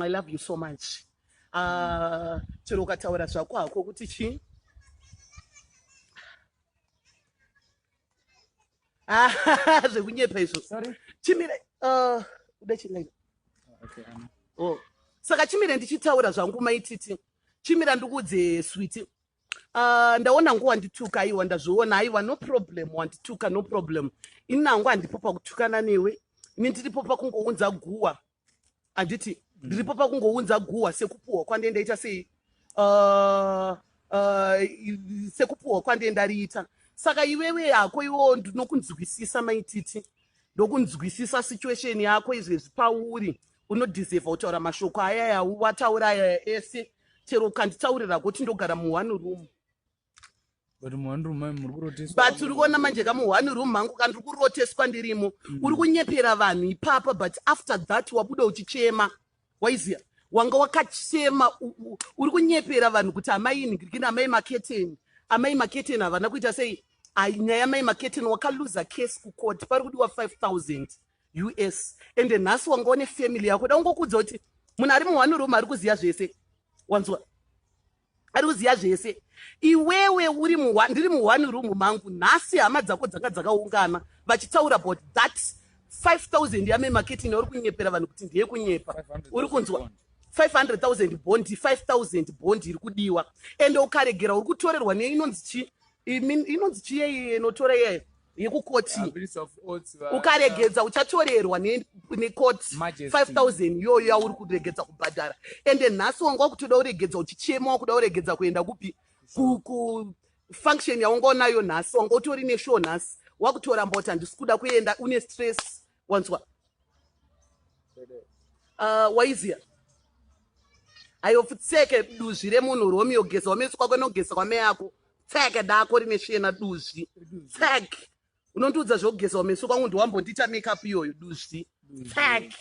I love you so much. Ah, chero ukataura zvako hako kuti chii? Ah, zvekunyepa izvo. Sorry. Chimire, uh, uda chingai. Okay, I'm... Oh. Saka chimire ndichitaura zvangu maititi. Chimira ndikuudze switi. Uh, ndaona nguva wandituka aiwa ndazviona aiwa no problem wandituka no problem ini nangu handipo pakutukana newe ini ndiripo pakungounza guwa anditi ndiripo pakungounza guhwa sekupuhwa kwandee ndaita sei uh, uh, sekupuhwa kwandee ndariita saka iwewe hako iwewo ndinokunzwisisa maititi ndokunzwisisa situation yako izvezvi pauri unodhiserva kutaura mashoko ayaya wataura ayaya ese chero ukanditaurira kuti ndogara muone room but uri kuona manje kamu one room mangu kandiri kuroteswa ndirimo mm. uri kunyepera vanhu ipapa but after that wabuda uchichema waiziva wanga wakachema uri kunyepera vanhu kuti amai nigirikini amai maketeni amai maketeni havana kuita sei nyaya yamai maketeni wakaluza case kukoti pari kudiwa 5000 us ende nhasi wanga une family yako da ungokudza kuti munhu ari muone room ari kuziva zvese wanzwa ari kuziva zvese iwewe uri ndiri muone room mangu nhasi hama dzako dzanga dzakaungana vachitaura about that 5000 yame marketing uri kunyepera vanhu kuti ndiye kunyepa uri kunzwa 500000 bond 5000 bond iri kudiwa ende ukaregera uri kutorerwa neinonzi chi inonzi chiyei inotora iyeyo yekukoti ukaregedza uchatorerwa nekoti 5000 iyoyo yauri kuregedza kubhadhara ende nhasi wanga wakutoda uregedza uchichema wakuda uregedza kuenda kupi kufunction yawanga unayo nhasi wanga utori neshow nhasi wakutoramba kuti handisi kuda kuenda une stress wanzwa uh, waiziya ayo futseke duzvi remunhu romeo geza wameso kwako inogeza kwame yako tseke dako rine sviyena duzvi tseke unondiudza zvokugeza wameso kwangu ndiwambondiita makeup iyoyo duzvi tseke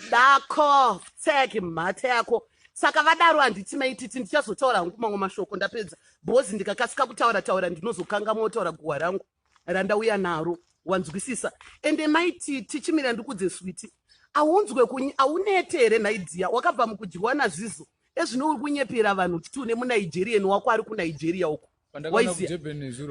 ndako tseki mhata yako saka vadaro handiti maititi ndichazotaura hangu mamwe mashoko ndapedza bhozi ndikakasika kutaura taura ndinozokanga motaura guhwa rangu randauya naro wanzwisisa ende maititi chimira ndikudze switi aunzwe kunyi aunete here nhaidhiya wakabva mukudyiwa nazizo ezvino uri kunyepera vanhu kuti une munigerian wako ari kunigeria uko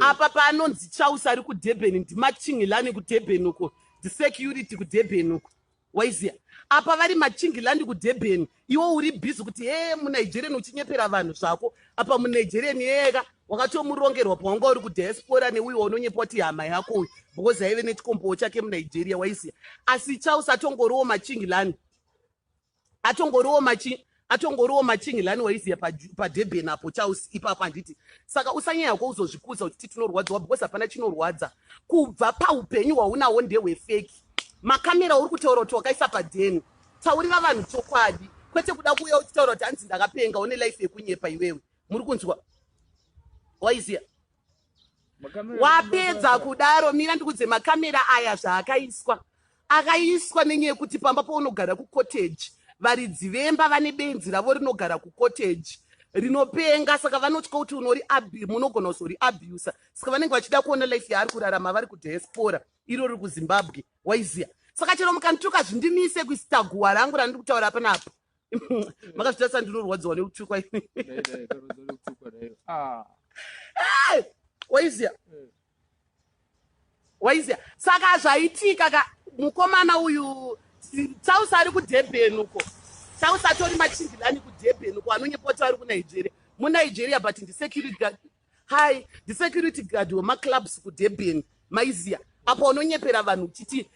apa paanonzi chaus ari kudurban ndimachingilani kudurban uko ndisecurity kudurban uko waizia apa vari machingilandi kudurban iwo uri busy kuti hee munigerian uchinyepera vanhu zvako apa munigerian yeka wakatomurongerwa pawanga uri kudiaspora neuyo waunonyepa kuti hama yako uyu because aive nechikombowo chake munigeria waizia asi chaus atongoriwo machingilandi atongoriwo machi atongoriwo machinglani waiziya padurban apo charles ipapo handiti saka usanyaya ko uzozvikudza uchiti tinorwadziwa because hapana chinorwadza kubva paupenyu hwaunawo ndehwefeki makamera uri kutaura kuti wakaisa padeni taurira vanhu chokwadi kwete kuda kuuya uchitaura kuti hanzi ndakapenga une life yekunyepa iwewe muri kunzwa waiziya wapedza kudaro mira ndikudze makamera aya zvaakaiswa akaiswa nenyaya yekuti pamba paunogara kucotage varidzi vemba vane benzi ravo rinogara kucotage rinopenga saka vanotya kuti unori munogona kuzori abusa saka vanenge vachida kuona life yaari kurarama vari kudiaspora iro riri kuzimbabwe waizia saka chero mukanituka zvindimise kuisita guwa rangu randiri kutaura panapa makazvitarisa ndinorwadziwa nekutukwa ah. waizia eh. waizia saka zvaitika ka mukomana uyu sausi ari kudurban uko sausi atori machindilani kudurban uko anonyepoti ari kunigeria munigeria but ndisecurity Hi, the security guard wemaclubs kudurban maiziya apa unonyepera vanhu uchiti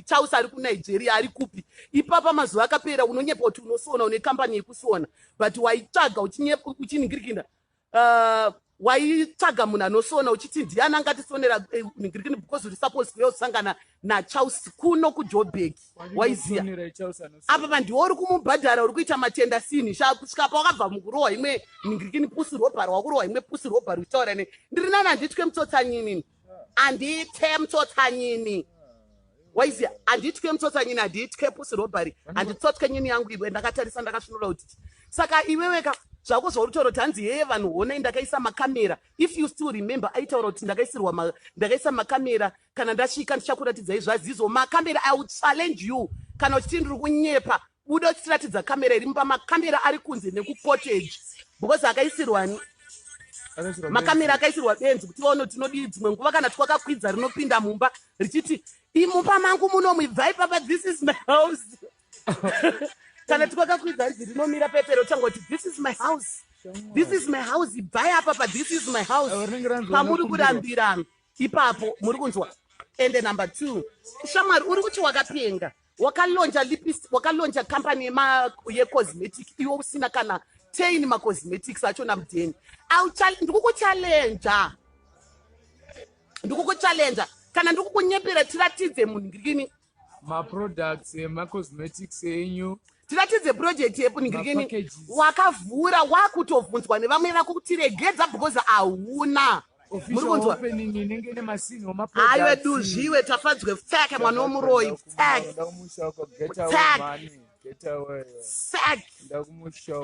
chausi ari kunigeria ari kupi ipapa mazuva akapera unonyepa kuti unosona une kambani yekusona but waitsvaga uchiningirikina uh, waitsvaga munhu anosona uchiti ndiani angatisonera eh, ningirikini because uri supposed kuya usangana nachausi kuno kujobeki waiziya apa pandiwo uri kumubhadhara uri kuita matenda sini kusvika pa wakabva mukurohwa imwe nhingirikini pusi ropa rwakurohwa imwe pusi ropa rwitaura ne ndiri nani handitwe mutsotsanyini handithe mutsotsanyini waiziya handitwe mutsotsanyini handithe pusi robhari handitsotwe nyini yangu iwe ndakatarisa ndakasvinura kuti saka iweweka zvako zvauritaura kuti hanzi heye vanhu honai ndakaisa makamera if you still remember aitaura kuti ndakaisirwa ndakaisa makamera Kana ndasvika ndichakuratidzai zvaZizo makamera I will challenge you kana uchiti ndiri kunyepa buda uchitiratidza kamera iri mumba makamera ari kunze nekucottage because akaisirwa makamera akaisirwa benzi kuti vaone tinodii dzimwe nguva kana twakakwidza rinopinda mumba richiti imumba mangu muno muibvai papa this is my house kana twakakwidza rizi rinomira pepero tanga kuti this is my house this is my house ibvai apapa this is my house pamuri kurambirana ipapo muri kunzwa ende number two shamwari uri kuti wakapenga wakalonja lipis wakalonja company yecosmetic iwe usina kana tain macosmetics achona mudheni ndikukuchalenja ndikukuchalenja kana ndikukunyepera tiratidze munhu ngirini maproducts emacosmetics enyu tiratidze project yepunhingirikeni wakavhura wakutobvunzwa nevamwe vako kuti regedza because hauna aiwe duzviwe tafadzwe pfeke mwana womuroyi pfeke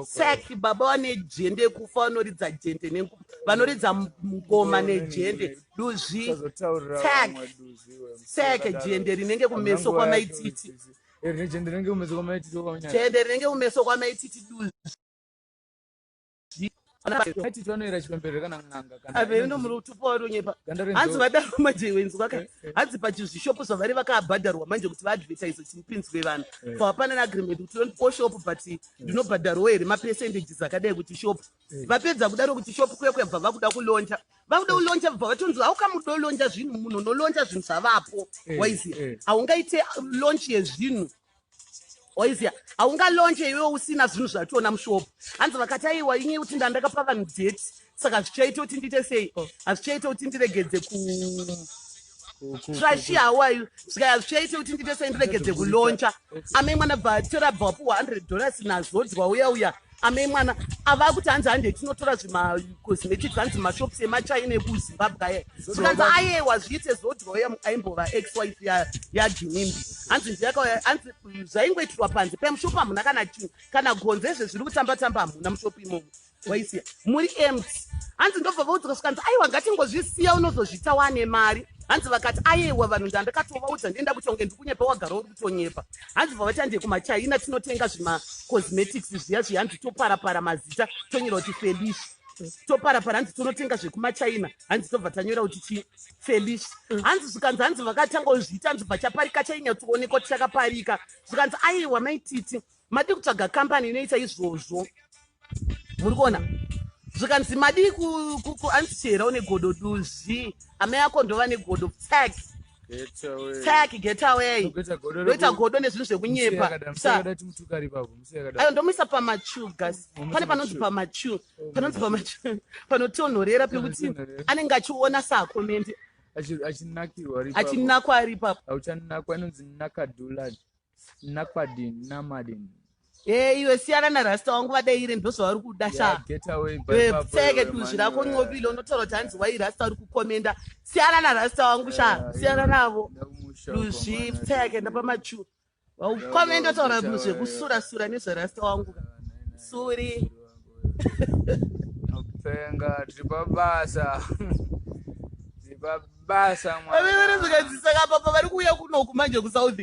saki baba vane jende kufa vanoridza jende nenguva vanoridza ngoma nejende duzvi sake jende rinenge kumeso kwamaititi jende rinenge kumeso kwamaititi duzvi hanzi vadaro manje wenzi vaka eh, eh. hanzi pachizvishopo zvavari vakabhadharwa manje kuti vaadvertise chimupinzwe vanhu eh. so hapana neagreement kuti tondipo shop but ndinobhadharwo here mapercentages akadai kuti shop vapedza kudaro kuti shop kuya kuyabva vakuda kulonja vakuda kulonja bva vatonzi haukamudo lonja zvinhu munhu unolonja zvinhu zvavapo waiziva haungaite lonch yezvinhu oizia haungalonje iwe usina zvinhu zvationa mushop hanzi vakati aiwa inye kuti ndandakapa vanhu date saka zvichaita kuti ndiite sei oh. hazvichaita kuti ndiregedze ku trashi hawayu zvikaya zvichaita kuti ndiite sei ndiregedze kulonja amai mwana bva tora bvapuwa 100 dollars nazodzwa uya uya ame mwana ava kuti hanzi hande tinotora zvimacosmetics hanzi mashops emachina ekuzimbabwe aya zvikanzi ayewa zviite zodroya aimbova ex wife yajinimbi hanzi ndiyakauya hanzi zvaingoitirwa panze pamushop hamuna kana chinhu kana gonzo ezve zviri kutamba tamba hamuna mushop imomo waisiya muri emt hanzi ndobva vaudzika zvikanzi aiwa ngatingozvisiya unozozvita wane mari hanzi vakati ayewa vanhu ndandakatovaudza ndienda kuti unge ndikunyepa wagara uri tonyepa hanzi bva vatiande kumachina tinotenga zvima cosmetics zviya zviya hanzi toparapara mazita tonyora kuti felish toparapara hanzi tonotenga zvekumachina hanzi tobva tanyora kuti chi felish hanzi zvikanzi hanzi vakatanga kuzviita hanzi bva chaparika chainyatsoonekwa tichakaparika zvikanzi aiwa maititi Madii kutsvaga company inoita izvozvo. Muri kuona? Zvikanzi madii ku ku ku answer une godo duzvi. Amai ako ndova negodo tag. Get away. Tag get away. Ndokuita godo reku- Ndoita godo nezvinhu Musi zvekunyepa. yakada- musi Sa- yakada timutukari ipapo, musi yakada. ayo ndomuisa pamachu gas Unomuisa pane panonzi pamachu. pamachu panonzi pamachu panotonhorera pekuti Panotonhorera. anenge achiona saakomendi Achi- achinakirwa ari ipapo. achinakwa ari ipapo Auchanakwa, inonzi nakadulad. Nakwadin, Namadin. Hey, iwe siyana na rasta wangu vadeire ndozvavari kuda sha pfeke duzvi rako ncobile unotaura kuti hanzi wai rasta uri kukomenda siyana na rasta wangu sha siyana navo duzvi pfeke ndapamachu vaukomenda utaura zvekusura sura nezverasta wangu suri Penga tiri pabasa. Tiri pabasa mwana. Ave vari zvikadzisa kapapa vari kuuya kuno kumanje kuSouth.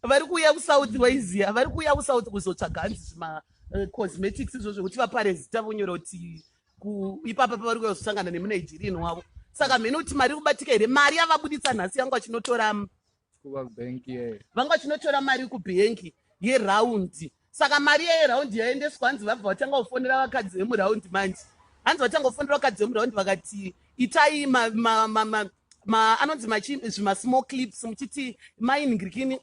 Vari kuuya kuSouth waiziya. Vari kuuya kuSouth kuzotsvaga hanzi zvima eh, cosmetics izvo zvekuti vapare zita vonyora kuti ku- ipapa pavari kuuya kuzosangana nemuNigerian wavo. Saka mhene kuti mari iri kubatika here? Mari yavabuditsa nhasi yangu achinotora mm, vanga vachinotora mari kubhengi yeraundi saka mari iya yeraundi yaendeswa hanzi vabva vatanga kufonera vakadzi vemuraundi manje hanzi vatanga kufonera vakadzi vemuraundi vakati itai anonzi zvimasmall clips muchiti mainingirikini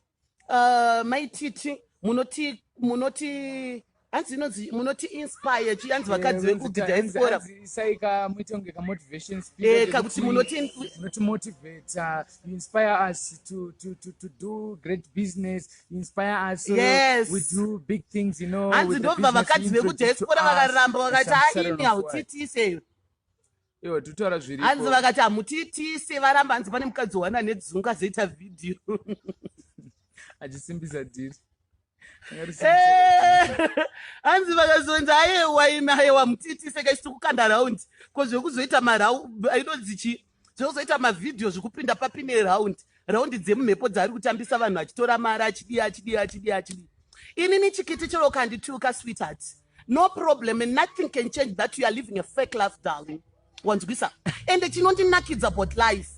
uh, maititi munoti munoti hanzi inonzi munoti inspire chi hanzi vakadzi eh, vekugidha esikora saika muite kunge ka motivation speech eh ka kuti munoti munoti motivate uh, you inspire us to to to to do great business you inspire us so yes. we do big things you know hanzi ndobva vakadzi vekugidha esikora vakaramba vakati aini hautitise Iwe tutaura zviripo. Hanzi vakati hamutiitise varamba hanzi pane mukadzi wana nedzungu azoita video. Achisimbisa dhiri. Eh, hanzi vakazonzi ayewa ina ayewa mutiitise kaisi tikukanda round ko zvekuzoita marau inonzi chii zvekuzoita mavhidhiyo zvekupinda papine round round dzemumhepo dzaari kutambisa vanhu achitora mari achidii achidii achidii achidii inini chikiti chero kandituka sweetheart no problem and nothing can change that you are living a fake life darling wanzwisa ende chinondinakidza about life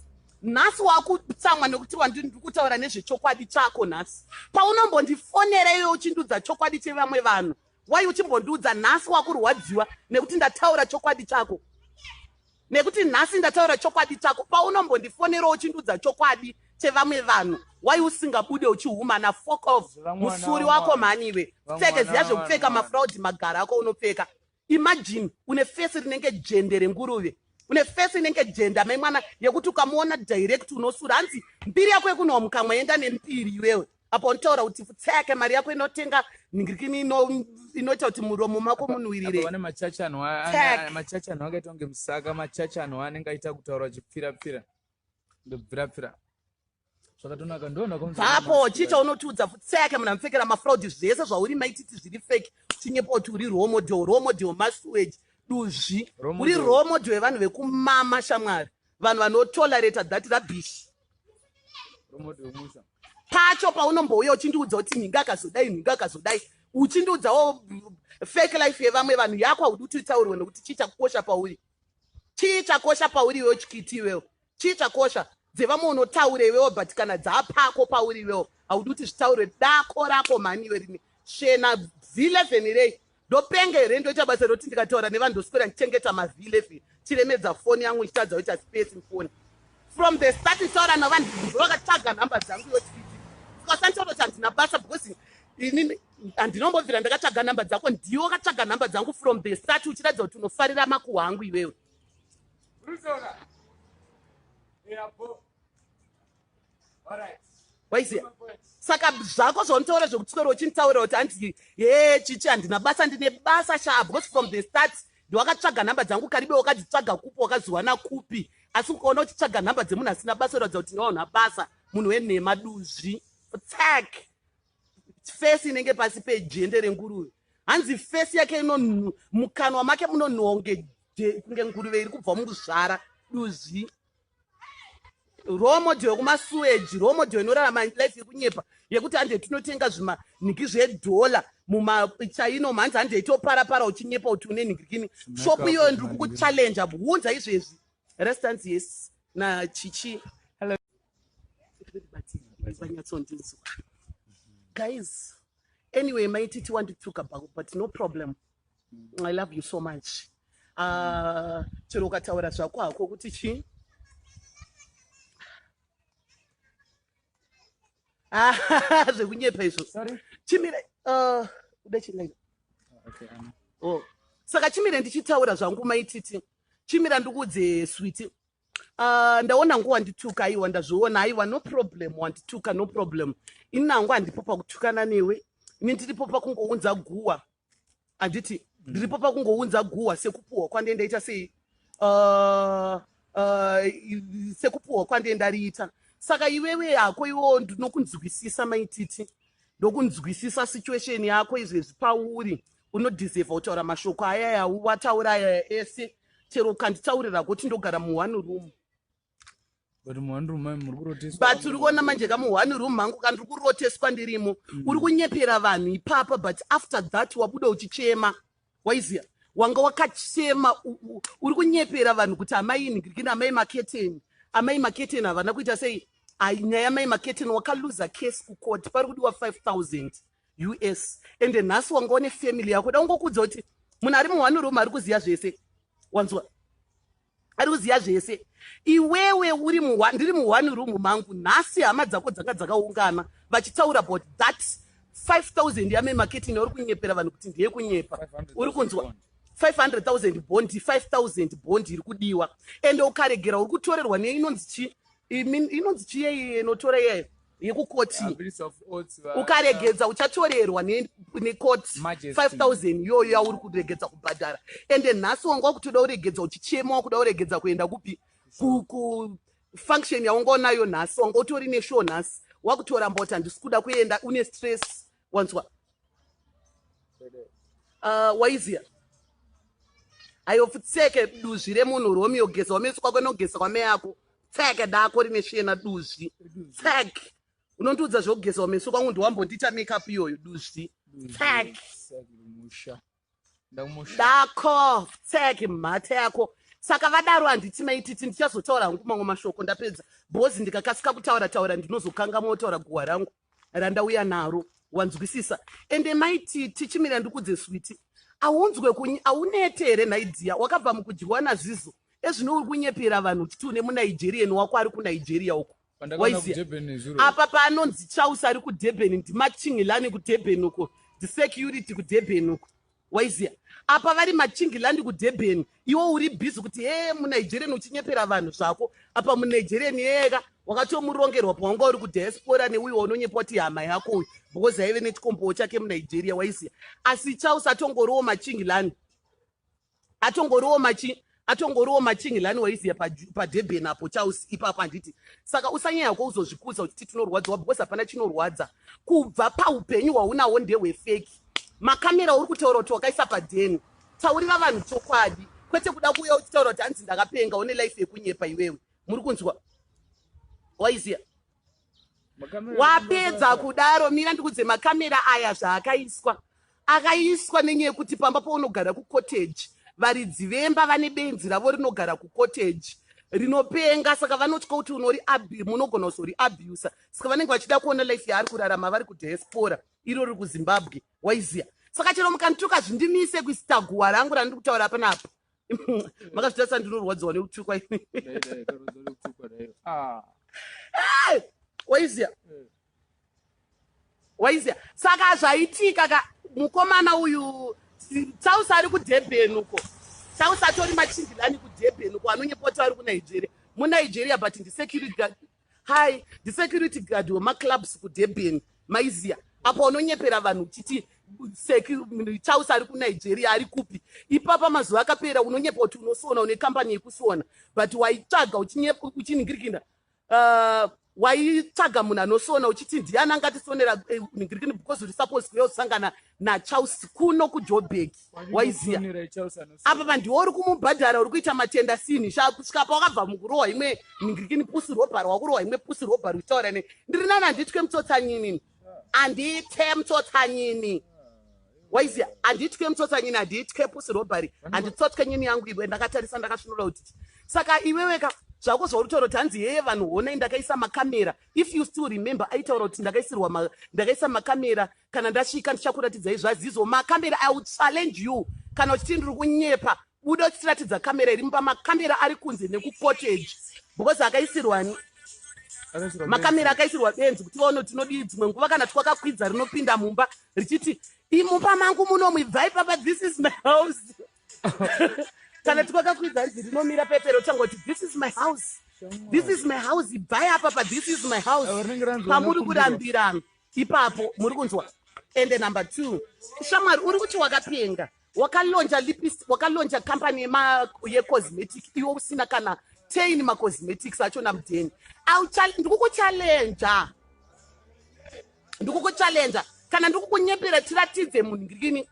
nhasi wakutsamwa nekuti wandiri kutaura nezvechokwadi chako nhasi paunombondifonera iwe uchindudza chokwadi chevamwe vanhu wai uchimbondiudza nhasi wakurwadziwa nekuti ndataura chokwadi chako Nekuti nhasi ndataura chokwadi chako paunombondifonerawo uchindiudza chokwadi chevamwe vanhu why usingabude uchihumana fok of musuri wako mhani iwe pfeke ziya zvekupfeka mafraudi magara ako unopfeka imagine une fesi rinenge jende renguruve une fesi inenge jenda mai mwana yekuti ukamuona direct unosura hanzi mbiri yako yekunowa mukamwa yenda nempiri iwewe apa uritaura kuti tseke mari yako inotenga nhingirikini inoita kuti muromo mako munhuwirire vane machachi anhu machachi anhu akaita kunge musaka machachi anhu anenge aita kutaura chipfirapfira ndobvirapfira zvakatonaka ndonakvapo chii chaunotiudza futseke munhu amupfekera mafraudi zvese zvauri maititi zviri fake chinyepo kuti uri role model role model masuage duzvi uri role model yevanhu vekumama shamwari vanhu vanotolerata that rabish pacho paunombouya uchindiudza kuti nhinga akazodai nhinga akazodai uchindiudzawo fake life yevamwe vanhu yako haudi kuti utaurwe nokuti chii chakukosha pauri chii chakosha pauri iwewo chikiti iwewo chii chakosha dzevamwe unotaura iwewo but kana dzaapako pauri iwewo haudi kuti zvitaurwe dako rako mhani iwe rini shena vhilevhenirei Ndopenga here ndoita basa roti ndikataura nevanhu ndoswera ndichengeta mazilefi chiremedza foni yangu ndichitadza kuita space mufoni from the start nditaura navanhu vakataga nhamba dzangu yotiti ndikasanitototi handina basa because ini handinombobvira ndakataga nhamba dzako ndiwo kataga nhamba dzangu from the start uchiratidza kuti unofarira makuhwa angu iwewe waiziya saka zvako zvaunotaura zvekutisoro uchinditaurira kuti hanzi he chichi handina basa ndine basa shaa because from the start ndiwakatsvaga nhamba dzangu karibe wakadzitsvaga kupi wakaziwana kupi asi ukaona uchitsvaga nhamba dzemunhu asina basa uratidza kuti ndiwaunha basa munhu wenhema duzvi tsak fesi inenge pasi pejende renguruve hanzi fesi yake inonhu mukanwa make munonhuwa kunge nguruve iri kubva mukuzvara duzvi role model yekumasuweji role model inorarama life yekunyepa yekuti hande tinotenga zvimanhiki zvedhola mumachaino mhanzi hande itopara para uchinyepa kuti une nhikikini shop iyoyo ndiri kukuchallenja bvunza izvezvi restance yes nachichi vanyatsondinzwa guys anyway maititi wandituka but no problem I love you so much. Ah, chero ukataura zvako hako kuti chii? Ah, zvekunyepa izvo. Sorry. Chimire, uh, uda chii like? Okay, Anna. Oh. Saka chimire ndichitaura zvangu maititi. Chimira ndikuudze switi. Uh, ndaona nguva wandituka aiwa ndazviona aiwa no problem wandituka no problem. Ini nangu handipo pakutukana newe. Ini ndiripo pakungounza guwa anditi ndiripo pakungounza guhwa sekupuhwa kwandee ndaita sei uh, uh, sekupuhwa kwandee ndariita saka iwewe hako iwewo ndinokunzwisisa maititi ndokunzwisisa situation yako izvezvi pauri unodhiserva kutaura mashoko ayaya wataura ayaya ese chero ukanditaurira kuti ndogara muone room but uri kuona manje kamu one room mangu kandiri kuroteswa ndirimo mm. uri kunyepera vanhu ipapa but after that wabuda uchichema waiziva wanga wakachema uri kunyepera vanhu kuti amai nigirikini amai maketeni amai maketeni havana kuita sei nyaya yamai maketeni wakaluza case kukoti pari kudiwa 5000 us ende nhasi wanga une family yako da ungokudza kuti munhu ari muhwanuruma ari kuziva zvese wanzwa ari kuziva zvese iwewe uri ndiri muone room mangu nhasi hama dzako dzanga dzakaungana vachitaura about that 5000 yame marketing yauri kunyepera vanhu kuti ndiye kunyepa uri kunzwa 500000 bond 5000 bond iri kudiwa ende ukaregera uri kutorerwa neinonzi chi inonzi chiyei inotora iyeyo yekukoti ukaregedza uchatorerwa nekoti 5000 iyoyo yauri kuregedza kubhadhara ende nhasi wanga wakutoda uregedza uchichema wakuda uregedza kuenda kupi kufunction yawanga unayo nhasi wanga utori neshow nhasi wakutora mboti handisi kuda kuenda une stress wanzwa uh, waiziya ayo futseke duzvi remunhu romeo geza wamesi kwako nogeza kwameyako tsek dako rine sviyena duzvi tsek unondiudza zvekugezawo meso kwangu ndiwambondiita makeup iyoyo duzvi tsek dako tsek mhata yako saka vadaro handiti maititi ndichazotaura hangu mamwe mashoko ndapedza bhozi ndikakasika kutaura taura ndinozokangamwa kutaura guhwa rangu randauya naro wanzwisisa ende maiti tichimira ndikudze switi aunzwe kunyi aunete here nhai dziya wakabva mukudyiwa nazizo ezvino uri kunyepera vanhu kuti une munigerian wako ari kunigeria uko waizia apa paanonzi chausi ari kudurban ndimachingilani kudurban uko ndisecurity kudurban uko Waiziya apa vari machingland kudurban iwo uri busy kuti hee munigerian uchinyepera vanhu zvako apa munigerian yeyeka wakatomurongerwa pawanga uri kudiaspora neuyo waunonyepa kuti hama yako uyu because aive nechikombowo chake munigeria waiziya asi chaus atongoriwo machingland atongoriwo machi atongoriwo machinglani waiziya padurban apo chaus ipapo handiti saka usanyaya ko uzozvikudza uchiti tinorwadziwa because hapana chinorwadza kubva paupenyu hwaunawo ndehwefeki makamera uri kutaura kuti wakaisa padeni taurira vanhu chokwadi kwete kuda kuuya uchitaura kuti hanzi ndakapenga une life yekunyepa iwewe muri kunzwa waiziya wapedza kudaro mira ndikudze makamera aya zvaakaiswa akaiswa nenyaya yekuti pamba paunogara kucotage varidzi vemba vane benzi ravo rinogara kucotage rinopenga saka vanotya kuti unori munogona kuzori abusa saka vanenge vachida kuona life yaari kurarama vari kudiaspora iro riri kuzimbabwe waiziya saka chero mukanituka zvindimise kuisita guwa rangu randiri kutaura panapa makazvitarisa ndinorwadziwa nekutukwa ah. waizia eh. waizia saka zvaitika ka mukomana uyu sausi ari kudurban uko sausi atori machindilani kudurban uko anonyepoti ari kunigeria munigeria but ndisecurity Hi, the security guard wemaclubs kudurban maiziya apa unonyepera vanhu uchiti chausi ari kunigeria ari kupi ipapa mazuva akapera unonyepa kuti unosona une kambani yekusona but waitsvaga uchiningirikina uh, waitsvaga munhu anosona uchiti ndiani angatisonera eh, ningirikini because uri supposed kuya usangana nachausi kuno kujobek waiziva apa vandiwo uri kumubhadhara uri kuita matenda sinhi kusvika pa wakabva mukurohwa imwe nhingirikini pusi robhar wakurohwa imwe pusi robhar uchitaura ne ndiri nani handitwe mutsotsanyini handithe mutsotsanyini waiziva handitwe mutsotsanyini handitwe pusi robhari handitsotwe nyini yangu iwe ndakatarisa ndakasvinura kuti saka iweweka zvako zvauritaura kuti hanzi yeye vanhu honai ndakaisa makamera if you still remember aitaura kuti ndakaisirwa ndakaisa makamera Kana ndasvika ndichakuratidzai zvaZizo makamera I will challenge you kana uchiti ndiri kunyepa buda uchitiratidza kamera iri mumba makamera ari kunze nekucottage because akaisirwani makamera akaisirwa benzi kuti vaone tinodii dzimwe nguva kana twakakwidza rinopinda mumba richiti imumba mangu muno muibvai papa this is my house kana twakakwidza rizi rinomira pepero tanga kuti this is my house this is my house ibvai apapa this is my house pamuri kurambirana ipapo muri kunzwa ende number two shamwari uri kuti wakapenga wakalonja lipis wakalonja company yecosmetic iwe usina kana tain macosmetics achona mudheni ndikukuchallenja ndikukuchallenja kana ndikukunyepera tiratidze munhu ngirini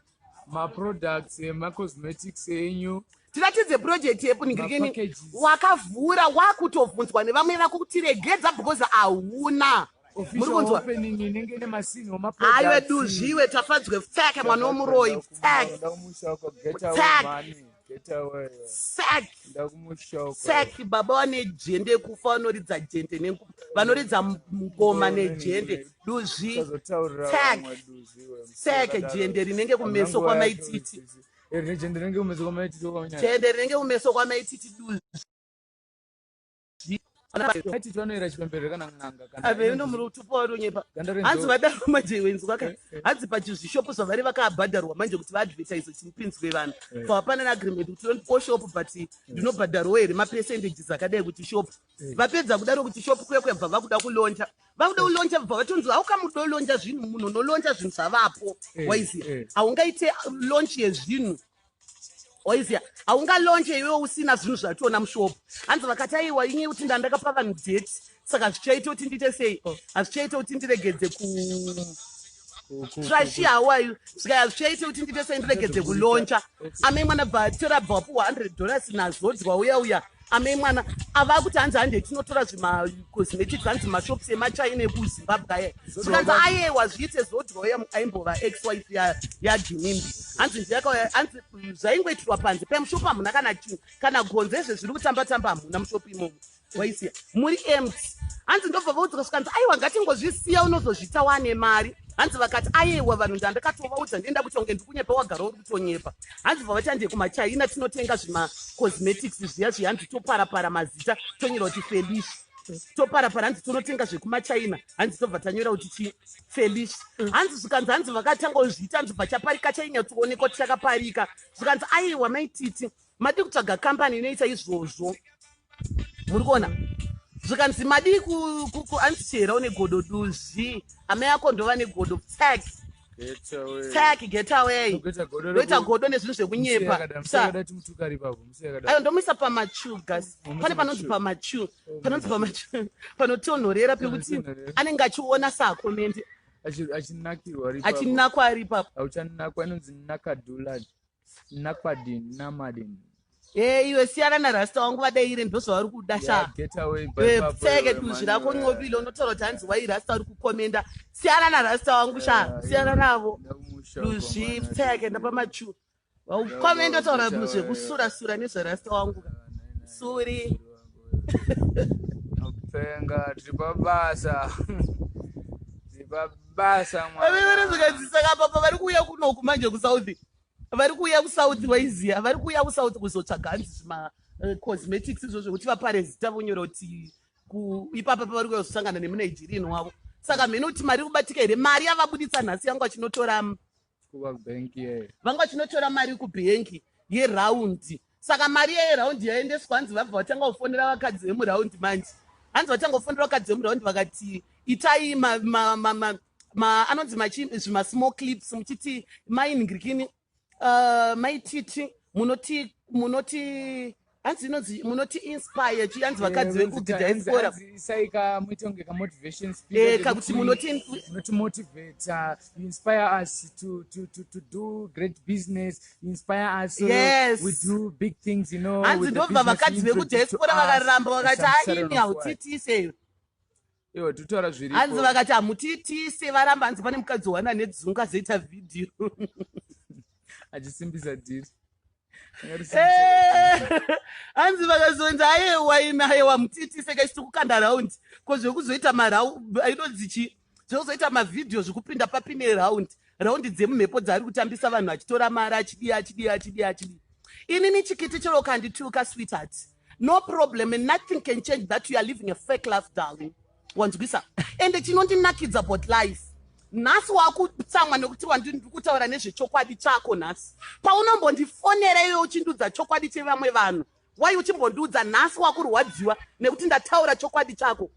maproducts emacosmetics enyu tiratidze project yepunigirikeni wakavhura wakutobvunzwa nevamwe vako kuti regedza because hauna aiwe duzviwe tafadzwe pfeke mwana womuroyi pfeke saki baba vane jende kufa vanoridza jende nengu vanoridza ngoma nejende duzvi sake jende rinenge kumeso kwamaititi jende rinenge kumeso kwamaititi duzvi aveve nomuri utupo wari unyepa hanzi vadaro manje wenzi waka eh, eh. hanzi pachizvishopo zvavari vakaabhadharwa manje kuti vaadvertise chimupinzwe vanhu eh. so hapana neagreement kuti tondipo shop but ndinobhadharwo here mapercentages akadai kuti shop vapedza kudaro kuti shop kuya kuyabva vakuda kuloncha vakuda kuloncha vabva vatonzi haukamuda uloncha zvinhu munhu unoloncha zvinhu zvavapo waiziva haungaite lonch yezvinhu oizia haungalonje iwe usina zvinhu zvationa mushop hanzi vakati aiwa inye kuti ndandakapa vanhu date saka zvichaita kuti ndiite sei hazvichaita kuti ndiregedze ku trashi hawayu zvikaya zvichaita kuti ndiite sei ndiregedze kulonja amai mwana bva tora bva wapuwa 100 dollars nazodzwa uya uya ame mwana ava kuti hanzi hande tinotora zvimacosmetics hanzi mashops emachina ekuzimbabwe aya zvikanzi ayewa zviite zodroya aimbova ex wife yajinimbi hanzi ndiyakauya hanzi zvaingoitirwa panze pemushop hamuna kana chinhu kana gonzo ezve zviri kutamba tamba hamuna mushop imomo waisiya muri emt hanzi ndobva vaudzika zvikanzi aiwa ngatingozvisiya unozozvita wane mari hanzi vakati ayewa vanhu ndandakatovaudza ndienda kuti unge ndikunyepa wagara uri tonyepa hanzi bva vatiande kumachina tinotenga zvima cosmetics zviya zviya hanzi toparapara mazita tonyora kuti felish toparapara hanzi tonotenga zvekumachina hanzi tobva tanyora kuti chi felish hanzi zvikanzi hanzi vakatanga kuzviita hanzi bva chaparika chainyatsoonekwa tichakaparika zvikanzi aiwa maititi Madii kutsvaga company inoita izvozvo. Muri kuona? Zvikanzi madii ku ku ku answer une godo duzvi. Amai ako ndova negodo tag. Get away. Tag get away. Kuita godo reku- Ndoita godo nezvinhu Musi zvekunyepa. yakada- musi Sa yakada timutukari ipapo, musi yakada. ayo ndomuisa pamachu gas Unomuisa pane panonzi pamachu. pamachu panonzi pamachu panotonhorera pekuti Panotonhorera. anenge achiona saakomendi Achi- achinakirwa ari ipapo. achinakwa ari ipapo Auchanakwa, inonzi nakadulad. Nakwadin, Namadin. Hey, iwe siyana na rasta wangu vadeire ndozvavari kuda sha pfeke duzvi rako ncobile unotaura kuti hanzi wai rasta uri kukomenda siyana na rasta wangu sha siyana navo duzvi pfeke ndapamachu vaukomenda utaura zvekusura sura nezverasta wangu suri Penga tiri pabasa. Tiri pabasa mwana. Ave vanozogadzisa kapapa vari kuuya kunoku manje kuSouth. Vari kuuya kuSouth waiziya. Vari kuuya kuSouth kuzotsvaga hanzi zvima eh, cosmetics izvo zvekuti vapare zita vonyora kuti ku- ipapa pavari kuuya kuzosangana nemuNigerian wavo. Saka mheno kuti mari iri kubatika here? Mari yavabuditsa nhasi yangu achinotora mm, vanga vachinotora mari kubhengi yeraundi saka mari iya yeraundi yaendeswa hanzi vabva vatanga kufonera vakadzi vemuraundi manje hanzi vatanga kufonera vakadzi vemuraundi vakati itai anonzi machi zvimasmall clips muchiti mainingirikini uh, maititi munoti munoti hanzi inonzi munoti inspire chi hanzi vakadzi eh, vekugidha iskora saika muite kunge kamotivation speechka eh, kuti munoti munoti motivate uh, inspire us to, to, to, to do great business inspire us uh, yes. we do big things you know hanzi ndobva vakadzi vekudha iskora vakaramba vakati aini hautiitiseyo Iwe tutaura zviripo. Hanzi vakati hamutiitise varamba hanzi pane mukadzi wana nedzungu azoita video. Achisimbisa dhiri. Eh, hanzi vakazonzi ayewa imi ayewa mutiitise kachiti kukanda raundi ko zvekuzoita marau inonzi chii zvekuzoita mavhidhiyo zvekupinda papi neraundi raundi dzemumhepo dzaari kutambisa vanhu achitora mari achidii achidii achidii achidii inini chikiti chero kandituka sweetheart no problem and nothing can change that you are living a fake life darling wanzwisa ende chinondinakidza about life nhasi wakutsamwa nekuti wandiri kutaura nezvechokwadi chako nhasi paunombondifonera iwe uchindiudza chokwadi chevamwe vanhu wai uchimbondiudza nhasi wakurwadziwa nekuti ndataura chokwadi chako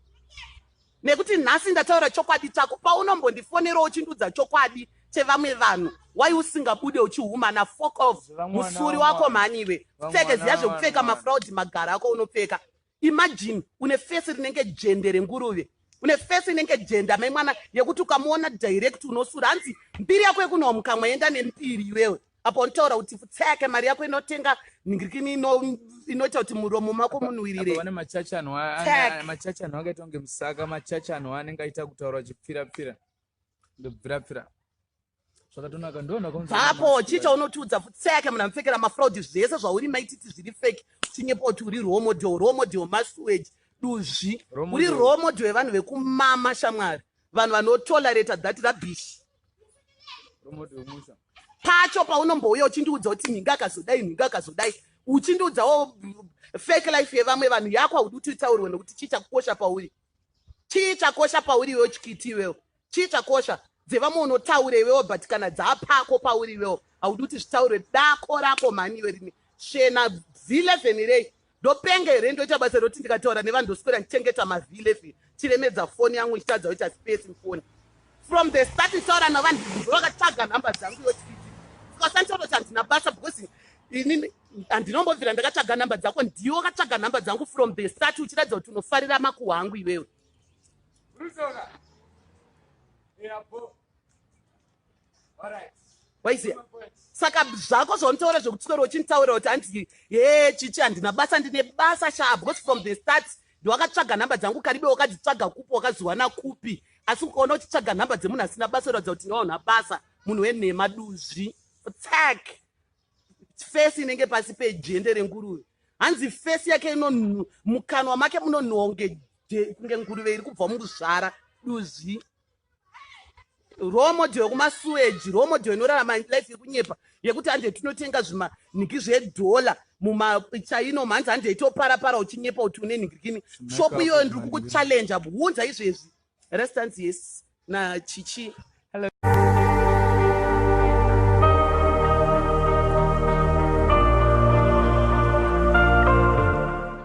Nekuti nhasi ndataura chokwadi chako paunombondifonerawo uchindiudza chokwadi chevamwe vanhu why usingabude uchihumana fok of musuri wako mhani iwe pfeke ziya zvekupfeka mafraudi magara ako unopfeka imagine une fesi rinenge jende renguruve une fesi inenge jenda mai mwana yekuti ukamuona direct unosura hanzi mbiri yako yekunowa mukamwa yenda nembiri iwewe apa uritaura kuti pfutseke mari yako inotenga nhingirikini inoita kuti muromo mako munwirire vane machachi anhu machachi anhu akaita kunge musaka machachi anhu anenge aita kutaura chipfirapfira ndobvirapfira zvakatonaka ndonakaapo chii chaunotiudza pfutseke munhu amupfekera mafraudi zvese zvauri maititi zviri fake chinyepa kuti uri role model role model masuage duzvi uri role model yevanhu vekumama shamwari vanhu vanotolerata that rabish pacho paunombouya uchindiudza kuti nhinga akazodai nhinga akazodai uchindiudzawo fake life yevamwe vanhu yako haudi kuti utaurwe nokuti chii chakukosha pauri chii chakosha pauri iwewo chikiti iwewo chii chakosha dzevamwe unotaura iwewo but kana dzaapako pauri iwewo haudi kuti zvitaurwe dako rako mhani iwe rini shena vhilevhenirei Ndopenga here ndoita basa roti ndikataura nevanhu ndoswera ndichengeta mavilefi chiremedza foni yangu ndichitadza kuita space mufoni from the start nditaura navanhu vakataga nhamba dzangu yotii ndikasanditototi handina basa because ini handinombobvira ndakataga nhamba dzako ndiwo kataga nhamba dzangu from the start uchiratidza kuti unofarira makuhwa angu iwewe waiziya saka zvako zvaunotaura zvekutisoro uchinditaurira kuti andii he chichi handina basa ndine basa shaa because from the start ndiwakatsvaga nhamba dzangu karibe wakadzitsvaga kupi wakaziwana kupi asi ukaona uchitsvaga nhamba dzemunhu asina basa uratidza kuti ndiwaona basa munhu wenhema duzvi tsak fesi inenge pasi pejende renguruve hanzi fesi yake ino mukanwa make munonhuwa kunge nguruve iri kubva mukuzvara duzvi role model yekumasuweji role model inorarama life yekunyepa yekuti hande tinotenga zvimanhiki zvedhola mumachaino mhanzi hande itopara para uchinyepa kuti une nhikikini shopu iyoyo ndiri kukuchallenja hunza izvezvi restance yes nachichi